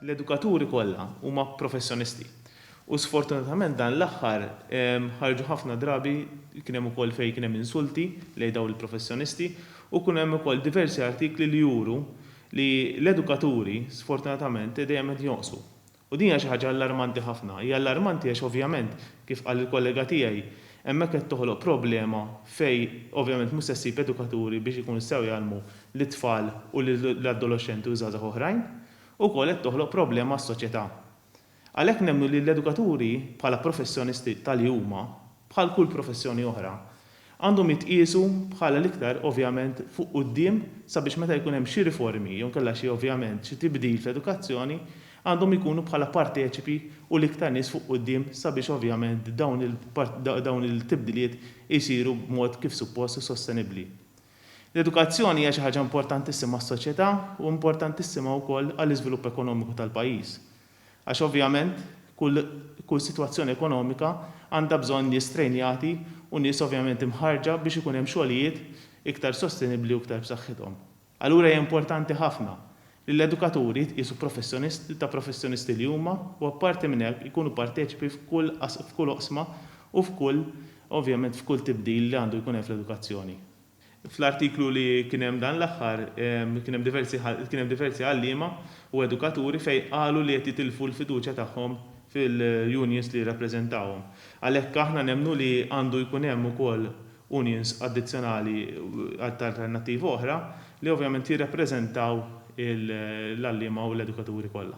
L-edukaturi kollha huma professjonisti u sfortunatament dan l-aħħar ħarġu ħafna drabi, kien hemm ukoll fejn kien hemm insulti lejn dawn il-professjonisti u kien hemm ukoll diversi artikli li juru li l-edukaturi sfortunatament dejjem qed jonqsu. U din hija xi ħaġa allarmanti ħafna. Hija allarmanti għax ovvjament, kif qal il-kollega tiegħi, hemmhekk qed toħloq problema fejn ovvjament mhux se ssib edukaturi biex ikunu jistgħu jgħallmu lit-tfal u lill-adoloxxenti u żgħażagħ oħrajn. Ukoll qed toħloq problema għas-soċjetà. Għalhekk nemmnu li l-edukaturi, bħala professjonisti ta' li huma, bħal kull professjoni oħra, għandhom jitqiesu bħala l-iktar ovvjament fuq quddiem sabiex meta jkun hemm xi riformi jew inkella xi ovvjament xi tibdil fl-edukazzjoni għandhom ikunu bħala parteċipi u l-iktar nies fuq quddiem sabiex ovvjament dawn il-tibdiliet isiru b'mod kif suppost u sostenibbli. L-edukazzjoni hija xi ħaġa importantissima għas-soċjetà u importantissima wkoll għall-iżvilupp ekonomiku tal-pajjiż. Għax ovvjament kull sitwazzjoni ekonomika għandha bżonn nies trejnjati u nies ovvjament imħarrġa biex ikun hemm xogħlijiet iktar sostenibbli u iktar b'saħħithom. Allura hija importanti ħafna li l-edukaturi jitqiesu professjonisti ta' professjonisti li huma u apparti minn hekk ikunu parteċipi f'kull oqsma u f'kull ovvjament f'kull tibdil li għandu jkun hemm fl-edukazzjoni. Fl-artiklu li kien hemm dan l-aħħar kien hemm diversi kien hemm diversi għalliema u edukaturi fejn qalu li qed jitilfu l-fiduċja tagħhom fil-unions li jirrappreżentawhom. Għalhekk aħna nemmnu li għandu jkun hemm ukoll unions addizzjonali ta' alternattiva oħra li ovvjament jirrappreżentaw l-għalliema u l-edukaturi kollha.